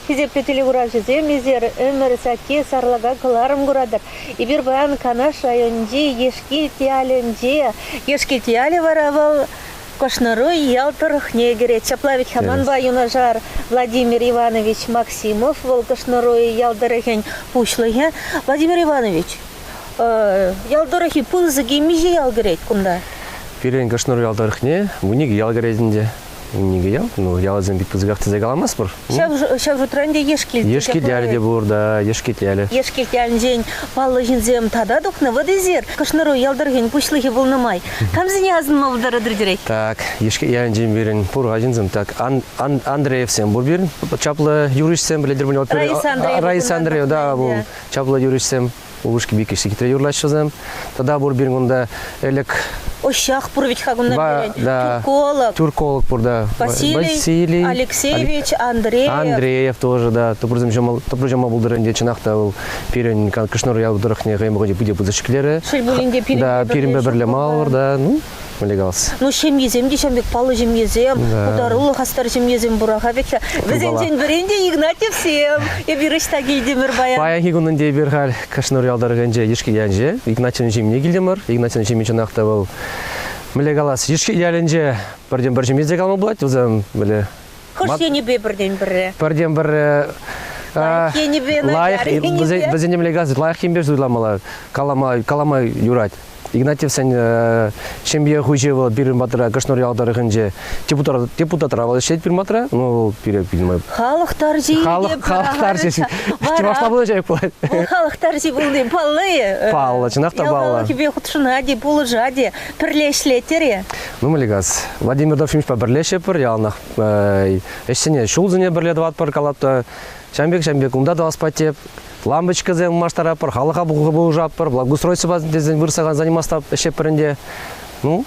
Хисеплӗ телекуравҫӑсем, эсир ӗмӗр сакки сарлака кӑларӑм куратӑр. Эпир паян Канаш районӗнчи Ешкилт ялӗнче. Ешкилт ялӗ вара вӑл Кӑшнӑруй ял тӑрӑхне кӗрет. Ҫапла вӗт хаманпа юнашар Владимир Иванович Максимов, вӑл Кӑшнӑруй ял тӑрӑхӗн пуҫлӑхӗ. Владимир Иванович, ял тӑрӑхӗ пысӑк темиҫе ял кӗрет кунта? Пирӗн Кӑшнӑруй ял тӑрӑхне вун икӗ ял кӗрет ӗнтӗ. Нике ял, ну ялсем бит пысӑках тесе каламастпӑр. Ҫав, ҫав шутра ӗнтӗ Ешкилт. Ешкилт те пур та, Ешкитлялӗ. Ешкилт ялӗнчен паллӑ ҫынсем тата тухнӑ. Вот эсир, Кӑшнӑру ял тӑрӑхӗн пуҫлӑхӗ пулнӑ май, камсене асӑнма пултаратӑр Так, Ешкилт ялӗнчен пирӗн пур-ха ҫынсем. Так, Андреевсем пур пирӗн. Чаплӑ юрӑҫсем, пӗлетӗр пуль. Раис Андреев. Раис Андреев, да, пул. Чаплӑ юрӑҫсем. Упӑшки Викӗш хитре юрлаҫҫӗ вӗсем. Тата пур пирӗн кунта ӗлӗк Ощах пур вӗт-ха кунта Тюрколог. Тюрколог пур да. Василий, Алексеевич, Андреев. Андреев тоже, да. Тупрусем ҫӑма пултӑр ӗнтӗ, чӑнах та вӑл пирӗн Кашнӑр ял тӑрӑхне хӑйӗн пахчи питӗ пысӑк ҫӗклерӗ. Шел пулин те, пирӗнпе пӗрле мал да, ну, вылякалс. Ну, ҫемьесем те ҫав пек паллӑ ҫемьесем, да. пултаруллӑ хастар ҫемьесем пура-ха пекка. Вӗсенчен пӗрин те Игнатьевсем. Эпир ӑҫта килтӗмӗр паян? Паянхи кунӑнче эпир халь Кӑшнур ял тӑрӑхӗнче Йышки ялӗнче Игнатьевӑн ҫемйине килтӗмӗр. Игнатьевӑн ҫемйи чӑнах та вӑл мӗнле калас, Йышки ялӗнче пӗртен-пӗр ҫемье те калама пулать, вӗсем мӗнле Хӑш енӗпе пӗртен пӗрре? Пӗртен пӗрре Лайӑх енӗпе, лайӑх енӗпе. Вӗсен нимле газ лайӑх енпе суйламалла, калама калама юрать. Игнатьевсен э, ҫемье хуҫи вӑл пирӗн патра Кӑшнӑр ял тӑрӑхӗнче депутатра вӑл ӗҫлет пирӗн патра. Ну вӑл пире пилмай. Халӑх тарҫи. Халӑх халӑх тарҫи. Чӑвашла пулӑҫать пулать. Вӑл халӑх тарҫи пулни палли. Паллӑ, чӑнах та паллӑ. Яланхипе хутшӑнать-и, пулӑшать-и. Пӗрле ӗҫлетӗр-и? Ну, Мелигаз, Владимир Дорфимовпа пӗрле ӗҫлетпӗр, яланах ӗҫсене, ҫулсене пӗрле тӑватпӑр калатпӑр. Ҫавӑн пек, ҫавӑн пек унта тӑвас паттеп. Лампочкӑсем улмаштаратпӑр, халӑха пулӑшатпӑр, благоустройствӑпа тесен вырса заниматься ӗҫлетпӗр ӗнтӗ. Ну,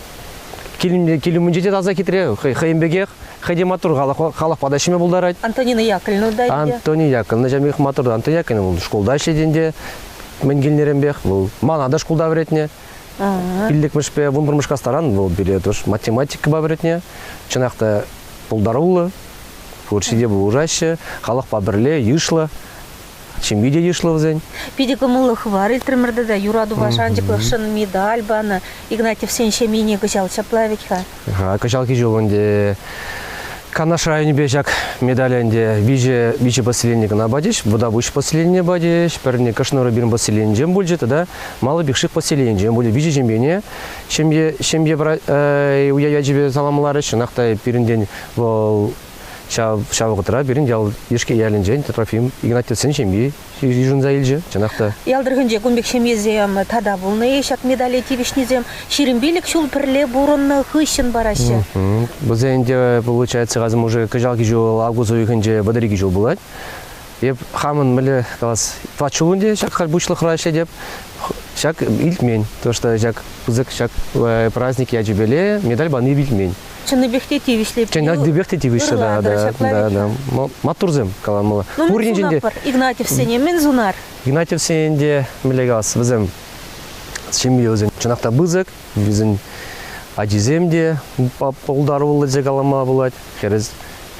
кил, кил умӗнче те таса хитре, хӑй, хӑйӗн пекех, хӑй те маттур халӑх, халӑхпа та ӗҫлеме пултарать. Антонина Яковлевна та ӗнтӗ. Антонина Яковлевна ҫамрӑк маттур. Антонина Яковлевна вӑл шкулта ӗҫлет ӗнтӗ. Мӗн килнӗренпех. Вӑл мана та шкулта вӗретнӗ. Пиллӗкмӗшпе вунпӗрмӗш класран вӑл пире тӑш математикӑпа вӗретнӗ. Чӑнах та пултаруллӑ, пурҫи те пулӑшаҫҫӗ, халӑхпа пӗрле йышлӑ. Ҫемье те йышлӑ вӗсен. Питӗ кӑмӑллӑ хыпар итрӗмӗр тата. Юратупа шанчӑклӑхшӑн медаль панӑ. Игнатьевсен ҫемйине кӑҫал ҫапла вӗт-ха. Кӑҫалхи ҫул ӗнтӗ Канаш районӗпе ҫак медаль ӗнтӗ виҫӗ, виҫӗ поселение кӑна патӗҫ. Вутапуҫ поселенине патӗҫ, пӗрне Кӑшнӑру пирӗн поселенинчен пулчӗ тата Мало Пикшик поселенинчен пулӗ. Виҫӗ ҫемьене ҫемье, ҫемье э, уя ячӗпе саламларӗҫ. Чӑнах та пирӗнтен вӑл ҫав, ҫав вӑхӑтра пирӗн ял Ишке ялӗнчен Трофим Игнатьевсен ҫемйи йышӑнса илчӗ, чӑнах та. Ял тӑрӑхӗнче кун пек ҫемьесем тата пулнӑ-и? Ҫак медале тивӗҫнисем ҫирӗм пилӗк ҫул пӗрле пурӑннӑ хыҫҫӑн параҫҫӗ. Вӗсен те, получается, касӑм уже кӑҫалхи ҫул август уйӑхӗнче вӑтӑрикӗ ҫул пулать. Эп хамӑн мӗнле калас, тӑват ҫул ӗнтӗ ҫак халь пуҫлӑхра ӗҫлетӗп. Ҫак илтмен, то что ҫак пысӑк ҫак праздник ячӗпеле медаль пани илтмен. Чӑннипех те тивӗҫлӗ. Чӑннипех те тивӗҫлӗ да, да, да, да. Маттурсем каланмалла. Ну, мӗн сунатпӑр Игнатьевсене, мӗн сунар? Игнатьевсене те мӗнле калас, вӗсем ҫемье вӗсен чӑнах та пысӑк, вӗсен ачисем те пултаруллӑ те калама пулать. Хӗрес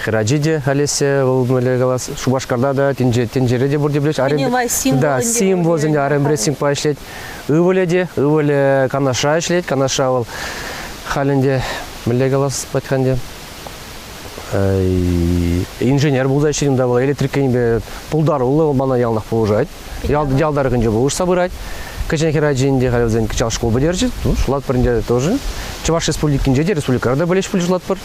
Хӗрачи те, Олеся, вӑл мӗнле калас, Шупашкарта та, тӗнчере те пурте пулӗҫ. Кинемай символ да, символ ӗнтӗ, арен прессингпа ӗҫлет. Ывӑлӗ те, ывӑлӗ Канаша ӗҫлет. Канаша вӑл халь ӗнтӗ, мӗнле калас патька ӗнтӗ, инженер пулса ӗҫлет унта вӑл электрик енӗпе пултаруллӑ вӑл мана ялтах пулӑшать ял, ял тӑрӑхӗнче пулӑшса пырать кӗҫӗн хӗрачин те халь вӗсен кӑҫал шкул пӗтерчӗ ну шутлатпӑр ӗнтӗ тоже Чӑваш Республикинче те республикӑра та пӗлеҫ пулӑшлатпӑр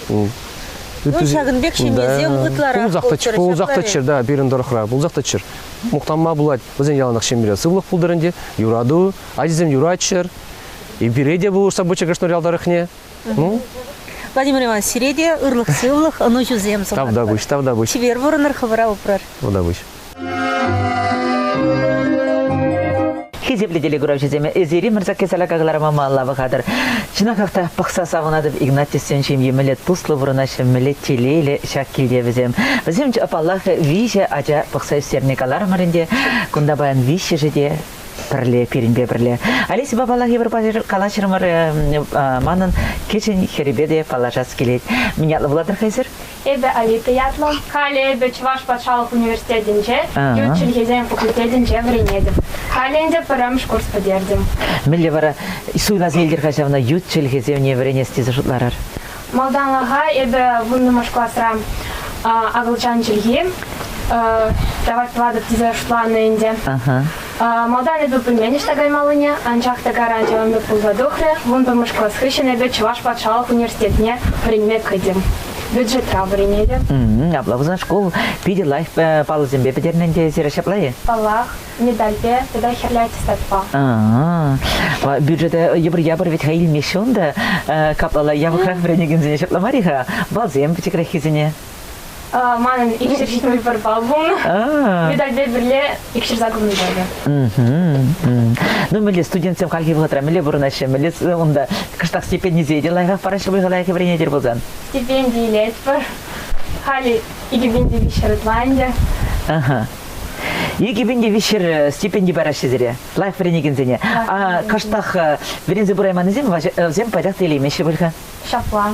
Ну, ҫакӑн пек ҫемьесем ытларах пулсах та пултӑр пулсах та чир да пирӗн тӑрӑхра пулсах та чир мухтанма пулать вӗсен яланах ҫемьере сывлӑх пултӑр ӗнтӗ юрату ачисем юратчӑр и пире те пулӑшса пыччӑр Краснодар ял тӑрӑхне ну Владимир Иванович сире те ырлӑх-сывлӑх ӑнӑҫусем сунатпӑр. Тавтапуҫ, тавтапуҫ. Чипер пурӑнӑр, хӑвӑра упрӑр. Тавтапуҫ. хисеплӗ телекуравҫӑсем, эсири мӑрсакки салака кӑлармама лава хатӑр. Чӑнахах та пӑхса савӑнатӑп Игнатьевсен ҫемйи мӗнле туслӑ пурӑнаҫҫӗ, мӗнле телейлӗ ҫак килте вӗсем. Вӗсем, паллах, виҫӗ ача пӑхса ӳстерни каларӑмӑр ӗнтӗ. Кунта паян виҫҫӗшӗ те пӗрле, пирӗнпе пӗрле. Олесьӑпа паллах эпир калаҫрӑмӑр, манӑн кӗҫӗн хӗрӗпе те паллашас килет. Мӗн ятлӑ пулатӑр-ха эсир? Эпӗ Алита ятлӑ. Халӗ эпӗ Чӑваш патшалӑх университетӗнче ют чӗлхесен факультетӗнче вӗренетӗп. Халӗ ӗнтӗ пӗрремӗш курс пӗтертӗм. Мӗнле вара суйласа илтӗр-ха ҫавна ют чӗлхесене вӗренес тесе шутларӑр? Малтанлӑха эпӗ вуннӑмӗш класра акӑлчан чӗлхи тавӑрт тӑватӑп тесе шутланӑ ӗнтӗ. Малтан эпӗ пӗлмен ӑҫта каймаллине, анчах та гаранти ӑнлӑх пулса тухрӗ. Вун пӗрмӗш класс хыҫҫӑн эпӗ Чӑваш патшалӑх университетне вӗренме кӗтӗм. Бюджетра вӗренетӗп. Апла пулсан шкул питӗ лайӑх паллӑсемпе пӗтернӗ ӗнтӗ эсир ҫапла-и? Паллах, медальпе тата хӗрлӗ аттестатпа. Бюджета йӑпӑр-япӑр вӗт-ха илмеҫҫӗ унта. Каплала япӑхрах вӗренекенсене ҫапла мар-и-ха? Балсем пӗчӗкреххисене. Манӑн икҫӗр ҫитмӗл пӗр балл пулнӑ. Медальпе пӗрле икҫӗр саккӑрмӗш балл. Ну, мӗнле студентсем хальхи вӑхӑтра мӗнле пурӑнаҫҫӗ, мӗнле унта кӑштах стипендисене те лайӑхах параҫҫӗ пуль лайӑх вӗренетӗр пулсан? Стипенди илетпӗр. Халӗ икӗпенди виҫҫӗр ытланчӗ. Ага. Икӗпенди виҫҫӗр стипенди параҫҫӗ сире, лайӑх вӗренекенсене. А кӑштах вӗренсе пырайманнисем вӗсем пайтах та илеймеҫҫӗ пуль-ха? Ҫапла.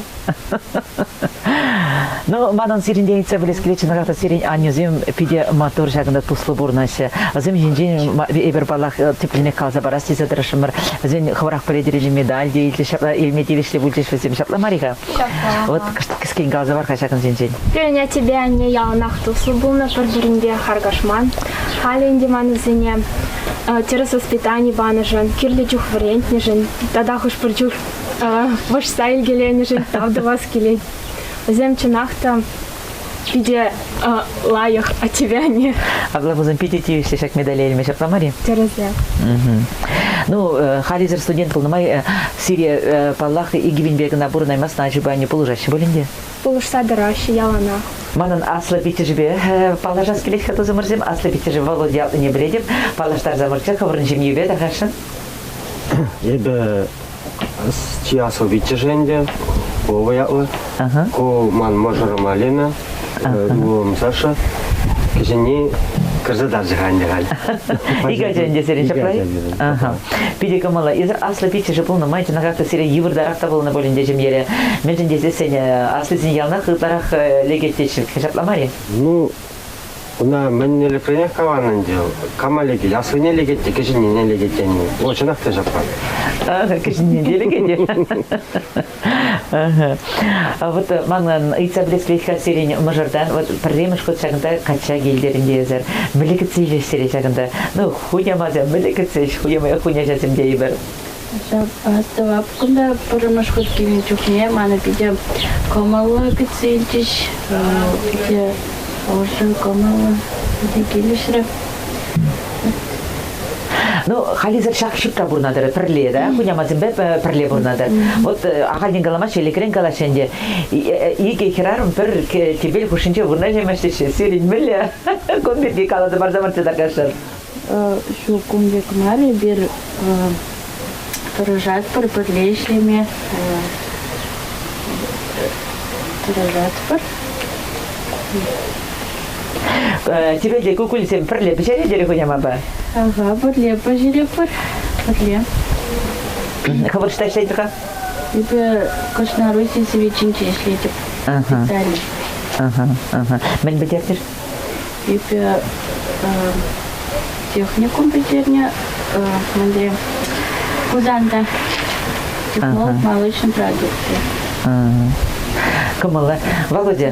Ну, манӑн сирӗнтен илтсе пӗлес килет, чӑнах та сирӗн аннӳсем питӗ маттур ҫакӑнта туслӑ пурӑнаҫҫӗ. Вӗсем ҫинчен эпир паллах тӗплӗнех каласа парас тесе тӑрӑшрӑмӑр. Вӗсен хӑвӑрах пӗлетӗр медаль те илчӗҫ, ҫапла илме тивӗҫлӗ пулчӗҫ вӗсем. Ҫапла мар-и-ха? Ҫапла. Вот кӗскен каласа пар-ха ҫакӑнсенчен. Пирӗн аттепе анне яланах туслӑ пулнӑ, пӗр-пӗринпе харкашман. Халӗ ӗнтӗ ман вӗсене тӗрӗс воспитани панӑшӑн, кирлӗ чух вӗрентнӗшӗн тата хӑш-пӗр чух вӑрҫса илкеленӗшӗн тав тӑвас килет. Вӗсем чӑнах та питӗ лайӑх от тебя они. А главбузӑм питӗ тивӗҫлӗ ҫак медале илме ҫапла мар-и? Тӗрӗсех. Ну, халисӗр студент пулнӑ май Сирия, паллах, икӗ кӑна пурӑнаймастӑн ачипе анне пулӑшаҫҫӗ пулин те. Пулӑшса тӑраҫҫӗ яланах. Манӑн аслӑ пиччӗшӗпе паллашас килет-ха, тусӑмӑрсем. Аслӑ пиччӗшӗ Володя ялтине пӗлетӗп. Паллаштарса пӑрччӗ хӑвӑрӑн ҫемйипе тахашшӑн. Эпӗ Чи аслӑ пиччӗшӗ ӗнтӗ, Вова ятлӑ. Ку ман мӑшӑрӑма Лена, ывӑлӑм Саша. Кӗҫӗнни кӗрсе тарчӗ-ха ӗнтӗ халь. Ик ача ӗнтӗ сирӗн ҫапла Питӗ кӑмӑллӑ. Эсир аслӑ пиччӗшӗ пулнӑ май чӑнахах та сире йывӑртарах та пулнӑ пуль ӗнтӗ ҫемьере. Мӗншӗн тесен сен аслисен яланах ытларах лекет тетчӗ. Ҫапла мар-и? Ну, Ӑна мӗн мероприятие каван ӗнтӗ, кама лекет? Аслине лекет те, кӗҫӗннине лекет тени. Вӑл чӑнах та ҫапла. Кӗҫӗнне те лекет. Вот манӑн ыйтса пӗлес сирен мӑшӑртан вот пӗрремӗш хут ҫакӑнта качча килтерӗн тейӗсӗр. Мӗле кӗтсе илӗҫ сире ҫакӑнта? Ну, хунямасем мӗле кӗтсе ӗҫ, хуняҫасем тейӗпӗр. Астӑвап кунта пӗрремӗш хут килнӗ чухне мана питӗ кӑмӑллӑ кӗтсе илчӗҫ. Питӗ ӑшӑ кӑмӑллӑ питӗ килӗшрӗ. Ну, халисӗр ҫак ҫутта пурӑнатӑр, пӗрле, да, хунямасемпе пӗрле пурӑнатӑр. Вот э, ахальтен каламаҫҫӗ, лекрен калаҫҫӗ ӗнтӗ. Икӗ хӗрарӑм пӗр тӗпел хушшинче вырнаҫаймаҫҫӗ-ши? Сирӗн мӗнле? Кун пирки каласа парса парса таркашар. Ҫул кунти кӑмӑл эпир тӑрӑшатпӑр, пӗрле ӗҫлеме тӑрӑшатпӑр. Тебе те кукулисем пӗрле пӗҫеретӗр хунямапа? Ага, пӗрле пӗҫеретпӗр, пӗрле. Хӑвӑр шта ӗҫлетӗр-ха? Эпир Кӑшнаруси свечинче ӗҫлетӗп. Италия. Мӗн пӗтертӗр? Эпӗ техникум пӗтернӗ, мӗнле Хусанта малый ҫын продукци. Кӑмӑллӑ. Володя,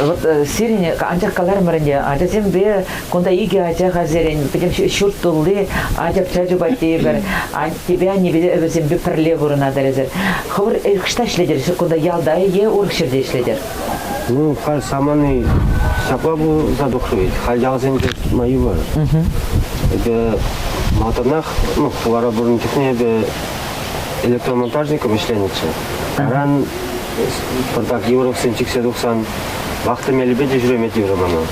вот сирӗн анчах каларӑмӑрӗнче ачасемпе кунта икӗ ача хальсерен пӗтӗм ҫурт тулли ача-пӑча чупать тейӗпӗр. Аттепе аннепе вӗсемпе пӗрле пурӑнатӑр эсир. Хӑвӑр ӑҫта ӗҫлетӗр? Кунта ялта е урӑх ҫӗрте ӗҫлетӗр? Ну, халь самани ҫапла пулса тухрӗ вӗт. Халь ялсенче тытма йывӑр. Эпӗ малтанах, ну, хулара пурӑннӑ чухне эпӗ электромонтажником ӗҫленӗччӗ. Аран пӑртак Юровсен чиксе тухсан вахта мелӗпе те ҫӳреме тиврӗ мана.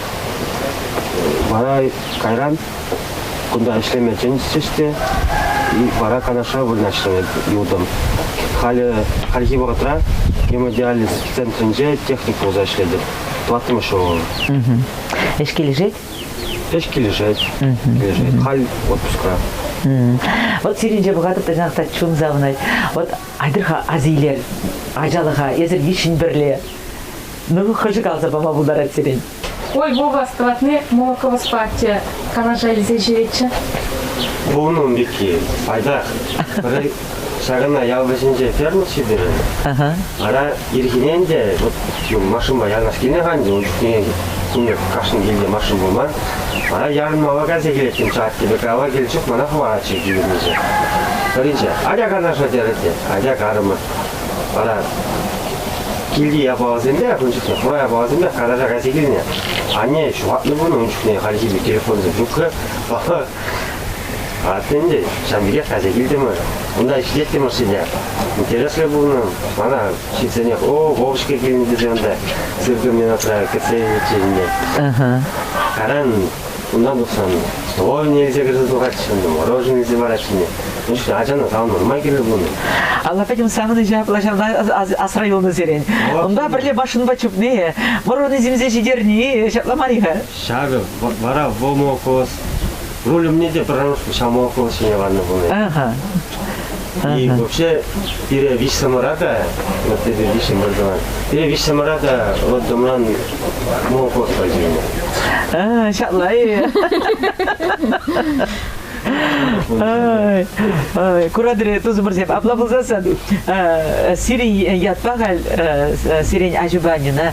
Вара кайран Кунта ӗҫлеме чӗнчӗҫ те, вара Канаша вырнаҫрӑм ютӑм. Халӗ, хальхи вӑхӑтра гемодиализ центрӗнче техник пулса ӗҫлетӗп. Тӑваттӑмӗш ҫул. Ӗҫ килӗшет? Ӗҫ килӗшет. Килӗшет. Халь отпускра. Вот сирӗнче пӑхатӑп та сана та чун савӑнать. Вот айтӑр-ха асилер ачалӑха эсир виҫҫӗн пӗрле. Ну, хӑшӗ каласа пама пултарать сирӗн? Ой, Вова, складны молоковоспа атте калаша илсе ҫӳретчӗ. Унӑн пекки пайтах. Пӗри ҫакӑна ял вӗҫӗнче ферма ҫитерӗ. Ара, ирхинен те вот машинпа янашкине канчӗ, ун чухне кунӗ кашни килте машин пулман. Вара ярӑнмалла кайса килеттӗм ҫаттипе кава кил чух мана хӑвачӗ килнӗче. Пӗринче, атя канаша терӗ те, атя карӑмӑр. Вара килти япаласемпе, ун чухне хура япаласемпе карта кайса килнӗ. Анне ҫухатнӑ кун ун чухне хальхи пек телефонсӑр трубка Аттен ӗнтӗ ҫав пекех кайса килтӗмӗр. Унта ӗҫлеттӗм ӑшшине. Интереслӗ пулнӑ. Мана ҫитсенех, о, Вовочка килнӗ тесе ӑнта сыркӑмне натра кӗтсе илчӗ ӗнтӗ. Каран Кунта тухсан довольно илсе кӗрсе тухатчӗ, мороженое илсе паратчӗ. Ӗҫ ачана сав нормаль киле пулнӑ. Алла пӗтӗм савӑнӑҫа плащавна асра юлнӑ сирен. Унта пӗрле машинпа чупни, мороженое симсе ҫитерни ҫапла мар-и-ха? Ҫакӑ вара в молоко руль умне те пӗр ҫамолоко ҫине ваннӑ пулнӑ. И вообще, пире виҫсӑмӑра та, вот эти виҫҫӗм образование, пире виҫсӑмӑра та роддомран молокот пачӗнӗ. А, ҫапла-и? Ой, ой, курадри тусӑмӑрсем апла пулсассӑн сирӗн ятпа халь сирен аҫупа Нина